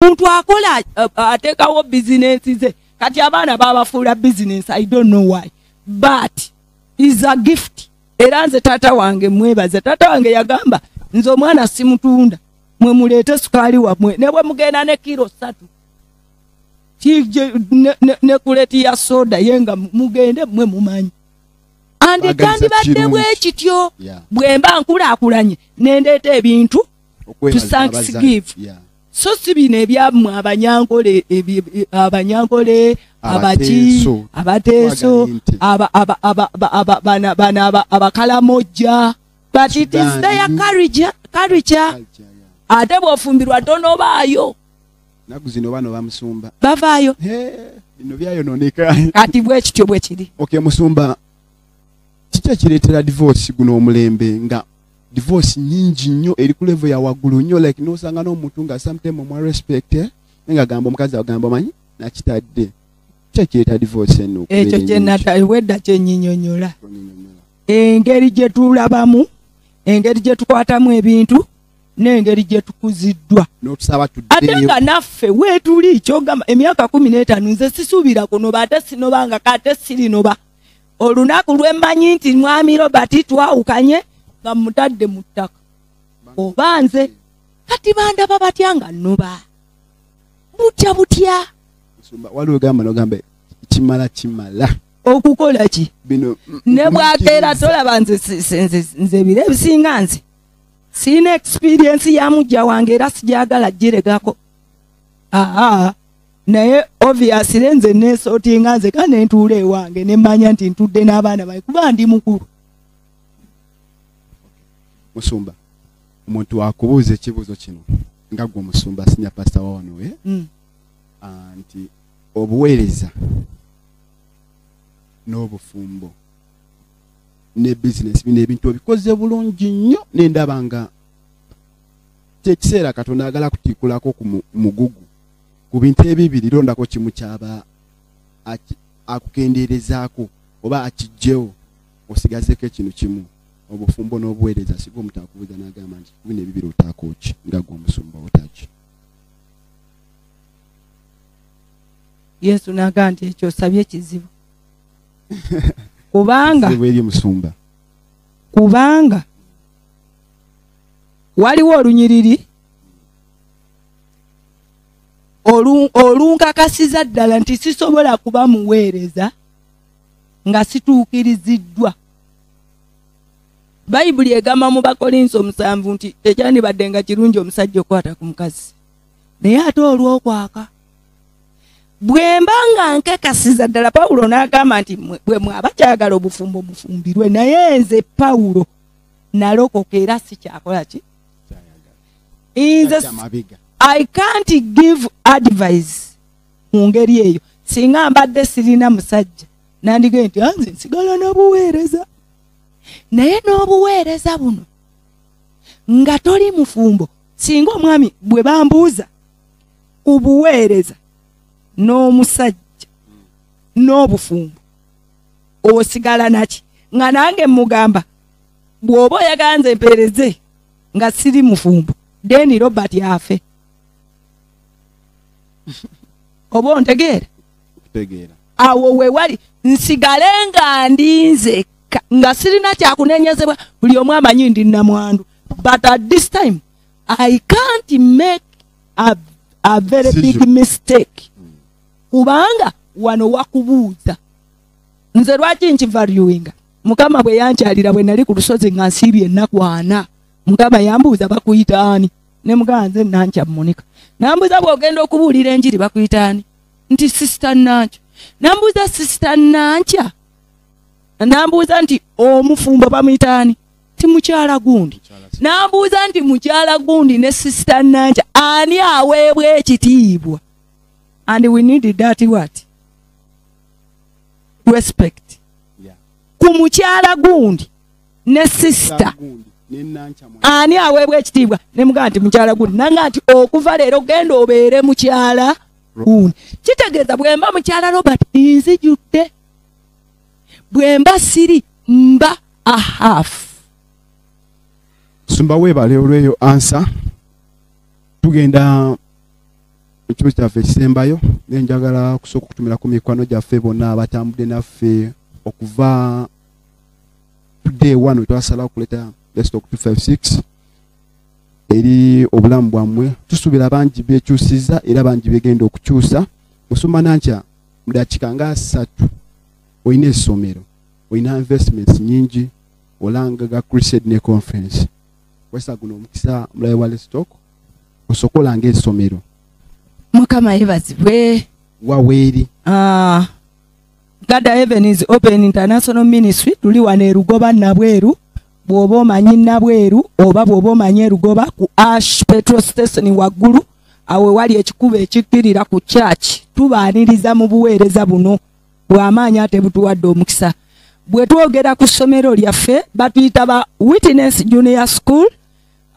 omuntu akola atekawo bizinensi ze kati abaana babafuula bizinensi i don't know why but is a gift era nze taata wange mwebaza taata wange yagamba nze omwana simutunda mwe muleete sukaali wamwe ne bwe mugenda ne kiro satu ne kuleti ya soda ye nga mugende mwe mumanyi andi kyandibadde bwe kityo bwe mba nkulaakulanye nendeeta ebintu to thanks give yeah. so si bino ebyamwe abanyankole abanyankole abaki abateeso abakalamojja but it is their courage courage ate bwofumbirwa tonobaayo naku zino bano bamusumba bavaayo bino byayononeka kati bwekityo bwekiri okay musumba kiki ekireetera divorce guno omulembe nga divorce nyingi nnyo eri ku level ya waggulu nnyo like nosanga n'omuntu nga sometime omwa respect eh, naye nga gamba omukazi agamba omanyi nakitadde kyekyeta divorce eno ekyo kyenatawedda kyenyinyonyola engeri gye tulabamu engeri gye tukwatamu ebintu n'engeri gye tukuziddwa ate nga naffe weetuli kyogamba emyaka kumi n'etaano nze sisuubira kunoba ate sinoba nga kate sirinoba olunaku lwe mmanyi nti mwami robert twawukanye nga mutadde mu ttaka oba nze kati bandaba batya nga noba butya butya waliwo gamba nogamba kimala kimala okukola ki bino ne bwakeera tolaba nze nze biro ebisinga nze siina experiensi ya mujja wange era sijagala giregako aa naye obviously nze nesotinga nze ka nentuula ewange nemanya nti ntudde n'abaana bae kuba ndi mukulu musumba omuntu wakubuuza ekibuuzo kino nga gwe omusumba sinya pasita wawanowe eh? mm. ah, nti obuweereza n'obufumbo ne bizinesi bino ebintu obikoze bulungi nnyo nendaba nga kyekiseera katonda agala kutikulako ku mugugu ku bintu ebibiri londako kimu kyaba akukendeerezaako oba akijjewo osigazeko ekinu kimu obufumbo n'obuweereza siga omutakubuuza n'agamba nti bino ebibiri otaakoki nga gwe omusumba otaki yesu n'agamba nti ekyo osabye ekizibu kubanga eri musumba kubanga waliwo olunyiriri olunkakasiza ddala nti sisobola kuba muweereza nga situukiriziddwa bayibuli egamba mu bakolinsi omusanvu nti tekyandibadde nga kirungi omusajja okukwata ku mukazi naye ate olwokwaka bwemba nga nkakasiza ddala pawulo n'agamba nti bwe mwaba kyagala obufumbo mufumbirwe naye nze pawulo nalokoka era sikyakola ki i can't give advice mu ngeri eyo singa mbadde sirina musajja nandigee nti anze ah, nsigala n'obuweereza naye n'obuweereza buno nga toli mufumbo singa omwami bwe bambuuza ku buweereza n'omusajja n'obufumbo osigala naki nga nange mugamba bwoba oyaganze empereze nga siri mufumbo deni robert afe oba ontegeera awo wewali nsigale nga ndinze nga sirina kyakunenyezebwa buli omu amanyi ndi namwandu but at this time i can't make a, a very big mistake kubanga wano wakubuuza nze lwaki nkivaluinga mukama bwe yankyalira bwe nali ku lusozi nga nsiibye ennaku ana mukama yambuuza bakuyita ani ne mugamba nze nankya munika nambuuza bw'ogenda okubuulira enjiri bakuyita ani nti sisita nankya nambuuza sisita nankya nambuuza nti omufumbo bamuyita ani ti mukyala gundi nambuuza nti mukyala gundi ne sisita nankya ani aweebwa ekitiibwa and we need that what respect ku mukyala gundi ne sister ani aweebwa ekitiibwa ne mugamba nti mukyala gundi nanga nti okuva leero genda obeere mukyala gundi kitegeeza bwemba mukyala robert nzijudde bwemba siri mba ahaf sumba weebale olweyo ansa tugenda ekyo kyaffe ekisembayo naye njagala kusooka okutumira ku mikwano gyaffe bonna abatambudde naffe okuva day one wetwasalawo okuleeta stock 256 eri obulamu bwammwe tusuubira bangi bekyusiza era bangi begenda okukyusa musumba nankya mudakiika nga asatu olina essomero olina investments nyingi olanga ga crusade ne conference wesa guno omukisa omulabe wa lestock osokola ng'essomero mukama yebazibwe waweeri ah, God heaven is open international ministry tuli wano erugoba nabweru bwoba omanyi nabweru oba bwoba omanyi erugoba ku ash petro station waggulu awe wali ekikuba ekikkirira ku church tubaaniriza mu buweereza buno bw'amaanyi ate butuwadde omukisa bwe twogera ku ssomero lyaffe batuyita ba witness junior school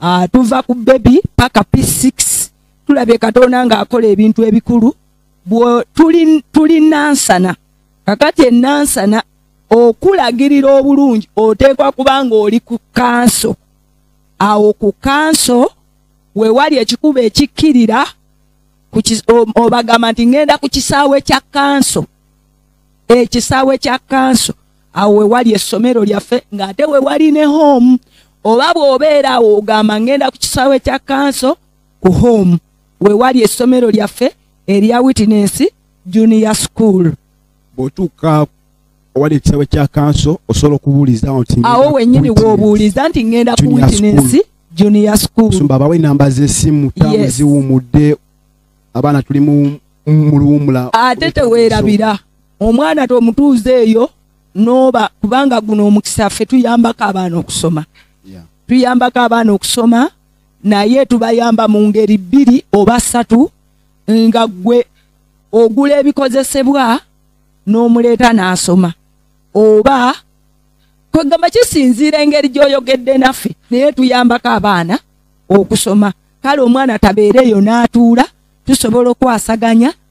ah, tuva ku bebi paka p6 tulabye katonda ng'akola ebintu ebikulu tuli nansana kakati enansana okulagirira obulungi oteekwa kuba ng'oli ku kanso awo ku kanso we wali ekikuba ekikkirira obagamba nti ŋŋenda ku kisaawe kya kanso ekisaawe kya kanso awo wewali essomero lyaffe ng'ate wewali ne home oba bw'obeera awo ogamba ngenda ku kisaawe kya kanso ku home wewali essomero lyaffe erya witness junior school bw'otuuka owali ekisaawe kya kanso osobola okubuuliza nti awo wennyini w'obuuliza nti ngenda ku witness junior school sumba abawe enamba z'essimu taamu ziwumudde abaana tuli mu luwumula ate teweerabira omwana tomutuuza eyo noba kubanga guno omukisa ffe tuyambako abaana okusoma tuyambako abaana okusoma naye tubayamba mu ngeri bbiri oba ssatu nga gwe ogula ebikozesebwa n'omuleeta n'asoma oba kwegamba kisinziira engeri gy'oyogedde naffe naye tuyambako abaana okusoma kale omwana tabeereeyo n'atuula tusobola okwasaganya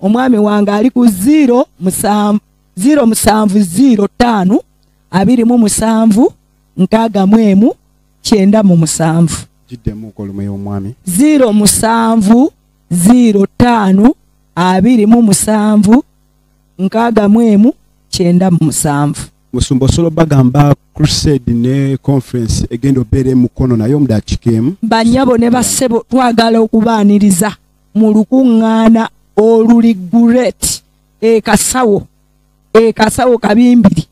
omwami wange ali ku ziro musanvu ziro musanvu ziro ttaano abiri mu musanvu nkaaga mu emu kyenda mu musanvu ziro musanvu ziro ttaano abiri mu musanvu nkaaga mu emu kyenda mu musanvu musumba osobola bagamba crusade ne conference egenda obeera emukono naye omudakiika emu banyabo ne bassebo twagala okubaaniriza mu lukuŋŋaana oluli guret ekasawo ekasawo kabimbiri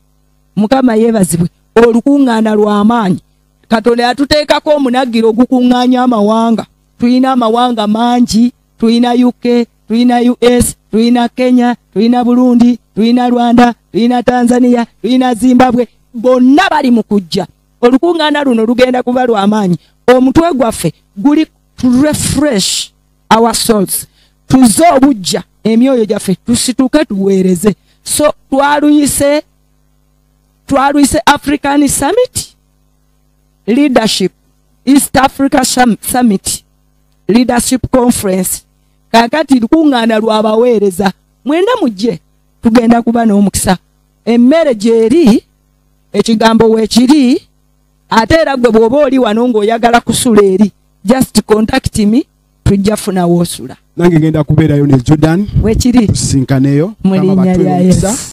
mukama yeebazibwe olukuŋŋaana lw'amaanyi katonda yatuteekako omunagiro ogukuŋŋaanya amawanga tulina amawanga mangi tulina uk tulina us tulina kenya tulina burundi tulina rwanda tulina tanzania tulina zimbabwe bonna bali mu kujja olukuŋŋaana luno lugenda kuba lw'amaanyi omutwe gwaffe guli to refresh our souls tuze obujja emyoyo gyaffe tusituke tuweereze so twaluyise twaluyise african summit leadership east africa summit leadership conference kakati lukuŋŋaana lwabaweereza mwenda mujje tugenda kuba n'omukisa emmere gyeri ekigambo weekiri ate era gwe bwoba oli wano ng'oyagala kusula eri just contact me tujja funa woosula nange ngenda kubeerayo ne jordan wekiri tusinkaneyo mu linnya lya yesu